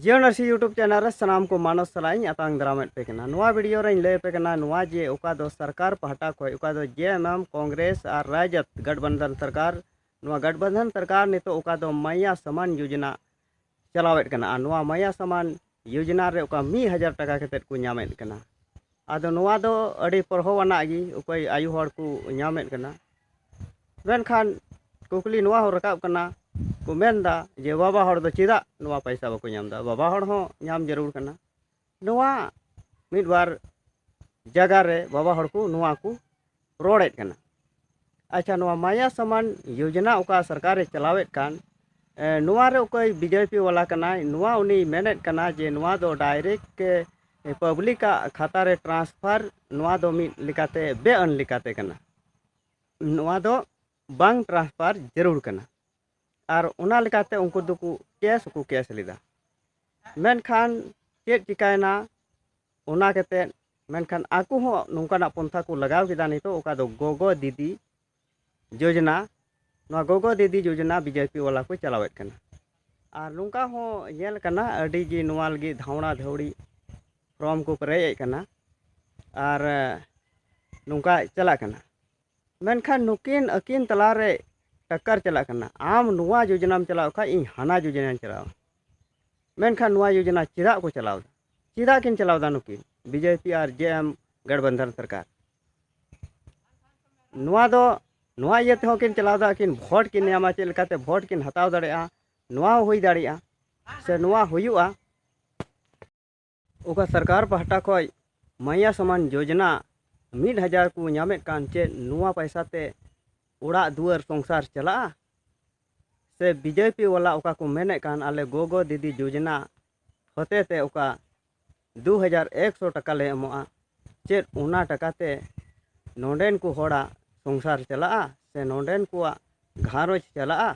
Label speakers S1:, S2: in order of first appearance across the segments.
S1: ᱡᱤᱭᱚᱱ ᱟᱨᱥᱤ YouTube channel ᱨᱮ ᱥᱟᱱᱟᱢ ᱠᱚ ᱢᱟᱱᱚᱥ ᱥᱟᱞᱟᱜ ᱤᱧ ᱟᱛᱟᱝ ᱫᱟᱨᱟᱢᱮᱫ ᱯᱮ ᱠᱟᱱᱟ ᱱᱚᱣᱟ ᱵᱷᱤᱰᱤᱭᱳ ᱨᱮᱧ ᱞᱟᱹᱭ ᱟᱯᱮ ᱠᱟᱱᱟ ᱱᱚᱣᱟ ᱡᱮ ᱚᱠᱟ ᱫᱚ ᱥᱚᱨᱠᱟᱨ ᱯᱟᱦᱴᱟ ᱠᱷᱚᱱ ᱚᱠᱟ ᱫᱚ ᱡᱮ ᱮᱢ ᱮᱢ ᱠᱚᱝᱜᱨᱮᱥ ᱟᱨ ᱨᱟᱡᱚᱛ ᱜᱟᱴᱵᱟᱱᱫᱷᱟᱱ ᱥᱚᱨᱠᱟᱨ ᱱᱚᱣᱟ ᱜᱟᱴᱵᱟᱱᱫᱷᱟᱱ ᱥᱚᱨᱠᱟᱨ ᱱᱤᱛᱚᱜ ᱚᱠᱟ ᱫᱚ ᱢᱟᱭᱟ ᱥᱟᱢᱟᱱ ᱭᱳᱡᱚᱱᱟ ᱪᱟᱞᱟᱣᱮᱫ ᱠᱟᱱᱟ ᱟᱨ ᱱᱚᱣᱟ ᱢᱟᱭᱟ ᱥᱟᱢᱟᱱ ᱭᱳᱡᱚᱱᱟ ᱨᱮ ᱚᱠᱟ ᱢᱤᱫ ᱦᱟᱡᱟᱨ ᱴᱟᱠᱟ ᱠᱟᱛᱮᱫ ᱠᱚ ᱧᱟᱢᱮᱫ ᱠᱟᱱᱟ ᱟᱫᱚ ᱱᱚᱣᱟ ᱫᱚ ᱟᱹᱰᱤ ᱯᱚᱨᱦᱚ ᱟᱱᱟᱜ ᱜᱮ ᱚᱠᱚᱭ ᱟᱭᱳ ᱦᱚᱲ ᱠᱚ ᱧᱟᱢᱮᱫ ᱠᱟᱱᱟ ᱢᱮᱱᱠᱷᱟᱱ ᱠᱩᱠᱞᱤ ᱱᱚᱣᱟ ᱦᱚᱸ ᱨᱟᱠᱟᱵ ᱠᱟᱱᱟ ᱠᱚ ᱢᱮᱱᱫᱟ ᱡᱮ ᱵᱟᱵᱟ ᱦᱚᱲ ᱫᱚ ᱪᱮᱫᱟᱜ ᱱᱚᱣᱟ ᱯᱚᱭᱥᱟ ᱵᱟᱠᱚ ᱧᱟᱢᱫᱟ ᱵᱟᱵᱟ ᱦᱚᱲ ᱦᱚᱸ ᱧᱟᱢ ᱡᱟᱹᱨᱩᱲ ᱠᱟᱱᱟ ᱱᱚᱣᱟ ᱢᱤᱫ ᱵᱟᱨ ᱡᱟᱭᱜᱟ ᱨᱮ ᱵᱟᱵᱟ ᱦᱚᱲ ᱠᱚ ᱱᱚᱣᱟ ᱠᱚ ᱨᱚᱲᱮᱫ ᱠᱟᱱᱟ ᱟᱪᱪᱷᱟ ᱱᱚᱣᱟ ᱢᱟᱭᱟ ᱥᱟᱢᱟᱱ ᱡᱳᱡᱚᱱᱟ ᱚᱠᱟ ᱥᱚᱨᱠᱟᱨᱮ ᱪᱟᱞᱟᱣᱮᱫ ᱠᱟᱱ ᱱᱚᱣᱟ ᱨᱮ ᱚᱠᱚᱭ ᱵᱤ ᱡᱮ ᱯᱤ ᱵᱟᱞᱟ ᱠᱟᱱᱟᱭ ᱱᱚᱣᱟ ᱩᱱᱤ ᱢᱮᱱᱮᱫ ᱠᱟᱱᱟᱭ ᱡᱮ ᱱᱚᱣᱟ ᱫᱚ ᱰᱟᱭᱨᱮᱠᱴ ᱯᱟᱵᱽᱞᱤᱠᱟᱜ ᱠᱷᱟᱛᱟ ᱨᱮ ᱴᱨᱟᱱᱥᱯᱷᱟᱨ ᱱᱚᱣᱟ ᱫᱚ ᱢᱤᱫ ᱞᱮᱠᱟᱛᱮ ᱵᱮᱼᱟᱹᱱ ᱞᱮᱠᱟᱛᱮ ᱠᱟᱱᱟ ᱱᱚᱣᱟ ᱫᱚ ᱵᱟᱝ ᱴᱨᱟᱱᱥᱯᱷᱟᱨ ᱡᱟᱹᱨᱩᱲ ᱠᱟᱱᱟ ᱟᱨ ᱚᱱᱟ ᱞᱮᱠᱟᱛᱮ ᱩᱱᱠᱩ ᱫᱚᱠᱚ ᱠᱮᱥ ᱦᱚᱸᱠᱚ ᱠᱮᱥ ᱞᱮᱫᱟ ᱢᱮᱱᱠᱷᱟᱱ ᱪᱮᱫ ᱪᱤᱠᱟᱹᱭᱮᱱᱟ ᱚᱱᱟ ᱠᱟᱛᱮᱫ ᱢᱮᱱᱠᱷᱟᱱ ᱟᱠᱚ ᱦᱚᱸ ᱱᱚᱝᱠᱟᱱᱟᱜ ᱯᱚᱱᱛᱷᱟ ᱠᱚ ᱞᱟᱜᱟᱣ ᱠᱮᱫᱟ ᱱᱤᱛᱳᱜ ᱚᱠᱟ ᱫᱚ ᱜᱚᱜᱚ ᱫᱤᱫᱤ ᱡᱳᱡᱽᱱᱟ ᱱᱚᱣᱟ ᱜᱚᱜᱚ ᱫᱤᱫᱤ ᱡᱳᱡᱽᱱᱟ ᱵᱤ ᱡᱮ ᱯᱤ ᱵᱟᱞᱟ ᱠᱚ ᱪᱟᱞᱟᱣᱮᱫ ᱠᱟᱱᱟ ᱟᱨ ᱱᱚᱝᱠᱟ ᱦᱚᱸ ᱧᱮᱞ ᱠᱟᱱᱟ ᱟᱹᱰᱤ ᱜᱮ ᱱᱚᱣᱟ ᱞᱟᱹᱜᱤᱫ ᱫᱷᱟᱣᱬᱟ ᱫᱷᱟᱹᱣᱲᱤ ᱯᱷᱨᱚᱢ ᱠᱚ ᱯᱮᱨᱮᱡ ᱮᱫ ᱠᱟᱱᱟ ᱟᱨ ᱱᱚᱝᱠᱟ ᱪᱟᱞᱟᱜ ᱠᱟᱱᱟ ᱢᱮᱱᱠᱷᱟᱱ ᱱᱩᱠᱤᱱ ᱟᱹᱠᱤᱱ ᱛᱟᱞᱟ ᱨᱮ ᱴᱟᱠᱠᱟᱨ ᱪᱟᱞᱟᱜ ᱠᱟᱱᱟ ᱟᱢ ᱱᱚᱣᱟ ᱡᱳᱡᱚᱱᱟᱢ ᱪᱟᱞᱟᱣ ᱠᱷᱟᱱ ᱤᱧ ᱦᱟᱱᱟ ᱡᱳᱡᱚᱱᱟᱧ ᱪᱟᱞᱟᱣᱟ ᱢᱮᱱᱠᱷᱟᱱ ᱱᱚᱣᱟ ᱡᱳᱡᱚᱱᱟ ᱪᱮᱫᱟᱜ ᱠᱚ ᱪᱟᱞᱟᱣ ᱮᱫᱟ ᱪᱮᱫᱟᱜ ᱠᱤᱱ ᱪᱟᱞᱟᱣ ᱮᱫᱟ ᱱᱩᱠᱤᱱ ᱵᱤ ᱡᱮ ᱯᱤ ᱟᱨ ᱡᱮ ᱮᱢ ᱜᱟᱴᱵᱟᱱᱫᱷᱟᱱ ᱥᱚᱨᱠᱟᱨ ᱱᱚᱣᱟ ᱫᱚ ᱱᱚᱣᱟ ᱤᱭᱟᱹ ᱛᱮᱦᱚᱸ ᱠᱤᱱ ᱪᱟᱞᱟᱣ ᱮᱫᱟ ᱠᱤᱱ ᱵᱷᱳᱴ ᱠᱤᱱ ᱧᱟᱢᱟ ᱪᱮᱫ ᱞᱮᱠᱟᱛᱮ ᱵᱷᱳᱴ ᱠᱤᱱ ᱦᱟᱛᱟᱣ ᱫᱟᱲᱮᱭᱟᱜᱼᱟ ᱱᱚᱣᱟ ᱦᱚᱸ ᱦᱩᱭ ᱫᱟᱲᱮᱭᱟᱜᱼᱟ ᱥᱮ ᱱᱚᱣᱟ ᱦᱩᱭᱩᱜᱼᱟ ᱚᱠᱟ ᱥᱚᱨᱠᱟᱨ ᱯᱟᱦᱴᱟ ᱠᱷᱚᱱ ᱢᱟᱭᱟ ᱥᱚᱢᱟᱱ ᱡᱳᱡᱚᱱᱟ ᱢᱤᱫ ᱦᱟᱡᱟᱨ ᱠᱚ ᱧᱟᱢᱮᱫ ᱠᱟᱱ ᱪᱮᱫ ᱱᱚᱣᱟ ᱯᱚᱭᱥᱟ ᱛᱮ ᱚᱲᱟᱜ ᱫᱩᱣᱟᱹᱨ ᱥᱚᱝᱥᱟᱨ ᱪᱟᱞᱟᱜᱼᱟ ᱥᱮ ᱵᱤ ᱡᱮ ᱯᱤ ᱵᱟᱞᱟ ᱚᱠᱟ ᱠᱚ ᱢᱮᱱᱮᱫ ᱠᱟᱱ ᱟᱞᱮ ᱜᱚᱜᱚ ᱫᱤᱫᱤ ᱡᱳᱡᱚᱱᱟ ᱦᱚᱛᱮ ᱛᱮ ᱚᱠᱟ ᱫᱩ ᱦᱟᱡᱟᱨ ᱮᱠ ᱥᱚ ᱴᱟᱠᱟ ᱞᱮ ᱮᱢᱚᱜᱼᱟ ᱪᱮᱫ ᱚᱱᱟ ᱴᱟᱠᱟ ᱛᱮ ᱱᱚᱰᱮᱱ ᱠᱚ ᱦᱚᱲᱟᱜ ᱥᱚᱝᱥᱟᱨ ᱪᱟᱞᱟᱜᱼᱟ ᱥᱮ ᱱᱚᱰᱮᱱ ᱠᱚᱣᱟᱜ ᱜᱷᱟᱨᱚᱸᱡᱽ ᱪᱟᱞᱟᱜᱼᱟ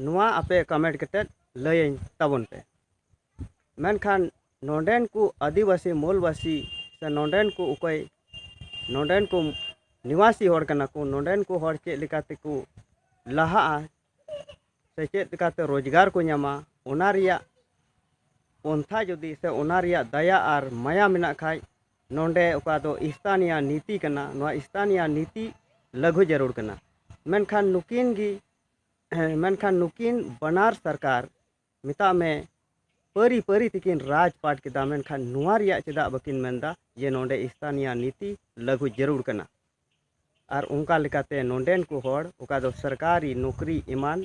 S1: ᱱᱚᱣᱟ ᱟᱯᱮ ᱠᱚᱢᱮᱱᱴ ᱠᱟᱛᱮᱫ ᱞᱟᱹᱭᱟᱹᱧ ᱛᱟᱵᱚᱱ ᱯᱮ ᱢᱮᱱᱠᱷᱟᱱ ᱱᱚᱰᱮᱱ ᱠᱚ ᱟᱹᱫᱤᱵᱟᱹᱥᱤ ᱢᱩᱞᱵᱟᱹᱥᱤ ᱥᱮ ᱱᱚᱰᱮᱱ ᱠᱚ ᱚᱠᱚᱭ ᱱᱚᱰᱮᱱ ᱠᱚ ᱱᱤᱵᱟᱥᱤ ᱦᱚᱲ ᱠᱟᱱᱟ ᱠᱚ ᱱᱚᱰᱮᱱ ᱠᱚ ᱦᱚᱲ ᱪᱮᱫ ᱞᱮᱠᱟ ᱛᱮᱠᱚ ᱞᱟᱦᱟᱜᱼᱟ ᱥᱮ ᱪᱮᱫ ᱞᱮᱠᱟᱛᱮ ᱨᱳᱡᱽᱜᱟᱨ ᱠᱚ ᱧᱟᱢᱟ ᱚᱱᱟ ᱨᱮᱭᱟᱜ ᱯᱚᱱᱛᱷᱟ ᱡᱩᱫᱤ ᱥᱮ ᱚᱱᱟ ᱨᱮᱭᱟᱜ ᱫᱟᱭᱟ ᱟᱨ ᱢᱟᱭᱟ ᱢᱮᱱᱟᱜ ᱠᱷᱟᱱ ᱱᱚᱰᱮ ᱚᱠᱟ ᱫᱚ ᱥᱛᱷᱟᱱᱤᱭᱟ ᱱᱤᱛᱤ ᱠᱟᱱᱟ ᱱᱚᱣᱟ ᱥᱛᱷᱟᱱᱤᱭᱟ ᱱᱤᱛᱤ ᱞᱟᱹᱜᱩ ᱡᱟᱹᱨᱩᱲ ᱠᱟᱱᱟ ᱢᱮᱱᱠᱷᱟᱱ ᱱᱩᱠᱤᱱ ᱜᱮ ᱢᱮᱱᱠᱷᱟᱱ ᱱᱩᱠᱤᱱ ᱵᱟᱱᱟᱨ ᱥᱚᱨᱠᱟᱨ ᱢᱮᱛᱟᱜ ᱢᱮ ᱯᱟᱹᱨᱤ ᱯᱟᱹᱨᱤ ᱛᱮᱠᱤᱱ ᱨᱟᱡᱽ ᱯᱟᱴ ᱠᱮᱫᱟ ᱢᱮᱱᱠᱷᱟᱱ ᱱᱚᱣᱟ ᱨᱮᱭᱟᱜ ᱪᱮᱫᱟᱜ ᱵᱟᱹᱠᱤᱱ ᱢᱮᱱᱫᱟ ᱡᱮ ᱱᱚᱰᱮ ᱥᱛᱷᱟᱱᱤᱭᱟ ᱱᱤᱛᱤ ᱞᱟᱹᱜᱩ ᱡᱟᱹᱨᱩᱲ ᱠᱟᱱᱟ ᱟᱨ ᱚᱱᱠᱟ ᱞᱮᱠᱟᱛᱮ ᱱᱚᱰᱮᱱ ᱠᱚ ᱦᱚᱲ ᱚᱠᱟ ᱫᱚ ᱥᱚᱨᱠᱟᱨᱤ ᱱᱚᱠᱨᱤ ᱮᱢᱟᱱ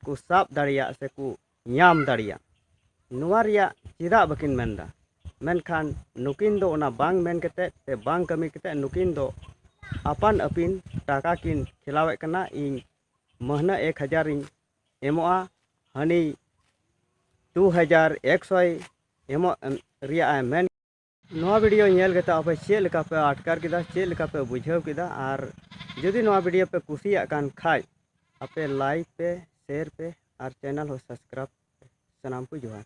S1: ᱠᱚ ᱥᱟᱵ ᱫᱟᱲᱮᱭᱟᱜ ᱥᱮᱠᱚ ᱧᱟᱢ ᱫᱟᱲᱮᱭᱟᱜ ᱱᱚᱣᱟ ᱨᱮᱭᱟᱜ ᱪᱮᱫᱟᱜ ᱵᱟᱹᱠᱤᱱ ᱢᱮᱱ ᱮᱫᱟ ᱢᱮᱱᱠᱷᱟᱱ ᱱᱩᱠᱤᱱ ᱫᱚ ᱚᱱᱟ ᱵᱟᱝ ᱢᱮᱱ ᱠᱟᱛᱮᱫ ᱥᱮ ᱵᱟᱝ ᱠᱟᱹᱢᱤ ᱠᱟᱛᱮᱫ ᱱᱩᱠᱤᱱ ᱫᱚ ᱟᱯᱟᱱ ᱟᱹᱯᱤᱱ ᱴᱟᱠᱟ ᱠᱤᱱ ᱠᱷᱮᱞᱟᱣᱮᱫ ᱠᱟᱱᱟ ᱤᱧ ᱢᱟᱹᱦᱱᱟᱹ ᱮᱠ ᱦᱟᱡᱟᱨᱤᱧ ᱮᱢᱚᱜᱼᱟ ᱦᱟᱹᱱᱤ ᱫᱩ ᱦᱟᱡᱟᱨ ᱮᱠᱥᱚᱭ ᱮᱢᱚᱜ ᱨᱮᱭᱟᱜ ᱮ ᱢᱮᱱ ᱱᱚᱣᱟ ᱵᱷᱤᱰᱤᱭᱳ ᱧᱮᱞ ᱠᱟᱛᱮ ᱟᱯᱮ ᱪᱮᱫ ᱞᱮᱠᱟ ᱯᱮ ᱟᱴᱠᱟᱨ ᱠᱮᱫᱟ ᱪᱮᱫ ᱞᱮᱠᱟ ᱯᱮ ᱵᱩᱡᱷᱟᱹᱣ ᱠᱮᱫᱟ ᱟᱨ ᱡᱩᱫᱤ ᱱᱚᱣᱟ ᱵᱷᱤᱰᱤᱭᱳ ᱯᱮ ᱠᱩᱥᱤᱭᱟᱜ ᱠᱟᱱ ᱠᱷᱟᱡ ᱟᱯᱮ ᱞᱟᱭᱤᱠ ᱯᱮ ᱥᱮᱭᱟᱨ ᱯᱮ ᱟᱨ ᱪᱮᱱᱮᱞ ᱦᱚᱸ ᱥᱟᱵᱥᱠᱨᱟᱭᱤᱵᱽ ᱯᱮ ᱥᱟᱱᱟᱢ ᱠᱚ ᱡᱚᱦᱟᱨ